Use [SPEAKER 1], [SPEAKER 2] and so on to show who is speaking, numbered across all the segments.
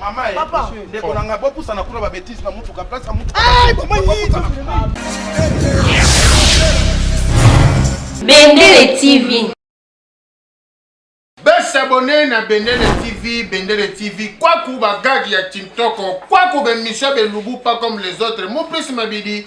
[SPEAKER 1] Mama eh, papa ndeko na ngai
[SPEAKER 2] bopusana kuna babetise na motuka place ya motuka
[SPEAKER 3] eh, bendele tv
[SPEAKER 4] besabone na bendele tv bendele tv kwaku bagagi ya tintoko kwaku bemission belubu pas comme les autres mopesi mabidi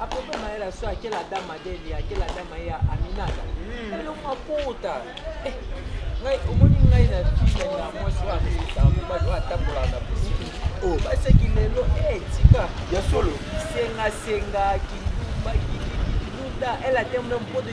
[SPEAKER 5] akope mayela so akela dama deli akela dama ya aminata eloko hmm. akota eh, ngai omoni ngai na file na mwasi oyo akosisa mobali oyo atambola na bosiki oyo oh. baseki lelo etika eh, ya solo
[SPEAKER 2] sengasenga
[SPEAKER 5] kindumba kikikiduda ela te meme mpo de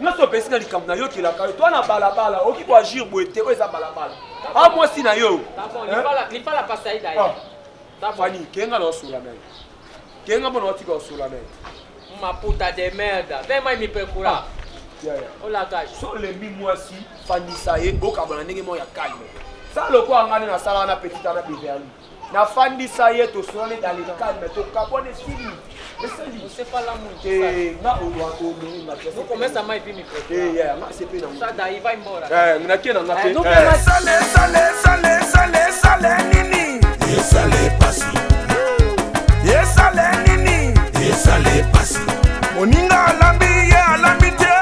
[SPEAKER 2] nyonso opesi na likambo nayokelaka yo to na balabala oki koagir boye te oyo eza balabala a ah, mwasi na yo
[SPEAKER 5] fani ah.
[SPEAKER 2] kenga na osola na ye kenga mpo na otika osola na ye maputa
[SPEAKER 5] de merde vema imipekula ah. olakashi so olembi mwasi
[SPEAKER 2] fandisa ye bokabana ndenge moko ya calme sala lokola ngani nasala wana petite ana beverli nafandisa ye tosona neti alekalme
[SPEAKER 5] tokabwana
[SPEAKER 1] esili
[SPEAKER 6] moninga
[SPEAKER 1] alambi ye alambi te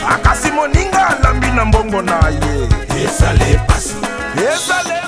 [SPEAKER 6] akasi moninga
[SPEAKER 1] alambi na mbongo na ye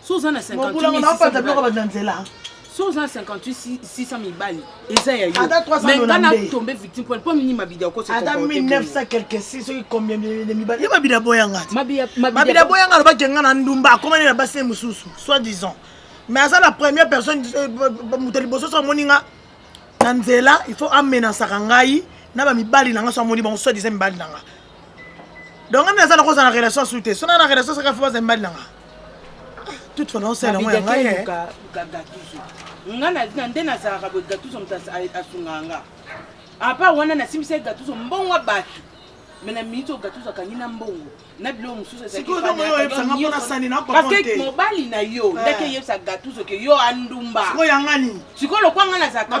[SPEAKER 1] so oza na 58600
[SPEAKER 7] so oza na 58600 mibali eza ya yomenga na
[SPEAKER 1] tombe
[SPEAKER 7] victime pone mpo mini mabidi akoseata 1900 quelque
[SPEAKER 1] si soki combien de mibali ye mabidi aboya ngati mabidi aboya nga alobaki nga na ndumba akomani na basi mosusu soit disant mais aza la première personne euh, moto liboso so amoni nga na nzela il faut amenasaka ngai na bamibali na nga so amoni bango soit disant mibali na nga donc ami aza nakoza na relation su te sona na relation saka fo baza mbali nanga toute fana osala yango ya
[SPEAKER 7] ngai eh. nga na nde nazalaka boye gatuso moto asungaka nga apa wana nasimbisa ye gatuso mbongo bato me na miniti oyo gatuso akangi na mbongo na biloko mosusu ezaliparceke
[SPEAKER 1] mobali na
[SPEAKER 7] yo eh. ndaki eyebisa gatuso ke yo andumba
[SPEAKER 1] sikoyo lokwa nga
[SPEAKER 7] nazalaka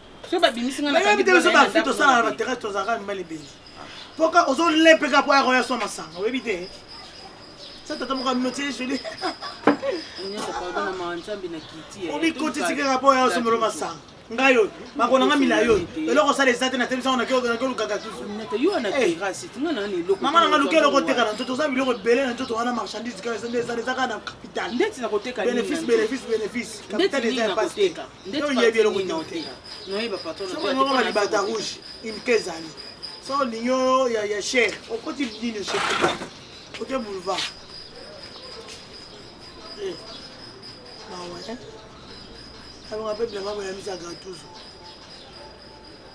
[SPEAKER 7] nayebi te biso bafri tosala
[SPEAKER 1] na baterrase tozalaka mibali ebele mpoka ozolepeka mpo akoya swa masanga oyebi te sa tata moko aminotie joli
[SPEAKER 7] omikotisi kaka mpo
[SPEAKER 1] oya osomolo masanga ngai oyo makona nga milai oyo eloko osala eza te na tebisango nakeolukaka
[SPEAKER 7] mama nanga luka eloko oteka na
[SPEAKER 1] nzoto oza biloko ebele na nzoto wana marchandise kaka eza nde eza kaka na capital bénéfice
[SPEAKER 7] bénéfice bénéfice
[SPEAKER 1] capital eza ya pasi Nde Yo oyebi eloko nini te. Noye ba
[SPEAKER 7] patron. Soko ngoko ba libata
[SPEAKER 1] rouge, une kezani. Soko linyo ya ya cher, okoti nini chez Kuba? Oke boulevard. Eh. Mawa, eh. Alonga pe bilamba ya misa gatuzo.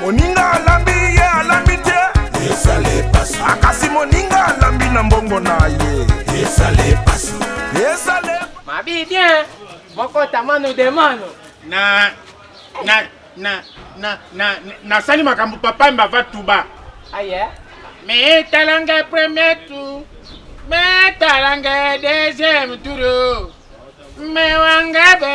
[SPEAKER 6] moninga
[SPEAKER 1] alambi ye alambi te
[SPEAKER 6] akasi moninga
[SPEAKER 1] alambi na mbongo na ye mabi bien
[SPEAKER 5] mokota mano de mano na na na
[SPEAKER 4] na na nasali makambo papa mbava tuba aye ah,
[SPEAKER 5] metala
[SPEAKER 4] ngai premier tour metala ngai deuxième tour mewanga be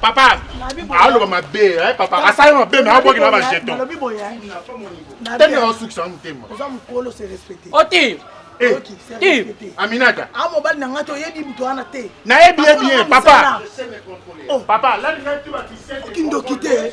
[SPEAKER 8] papa
[SPEAKER 4] aloba mabe eh, papa asali mabe me abwaki na bajeton
[SPEAKER 1] tende
[SPEAKER 4] asukisa na motema
[SPEAKER 1] oti
[SPEAKER 5] eh, eh, aminata
[SPEAKER 4] a ah, mobali na ngai te oyebi
[SPEAKER 1] moto wana te nayebi ye bien
[SPEAKER 4] papa oh. papa kindoki te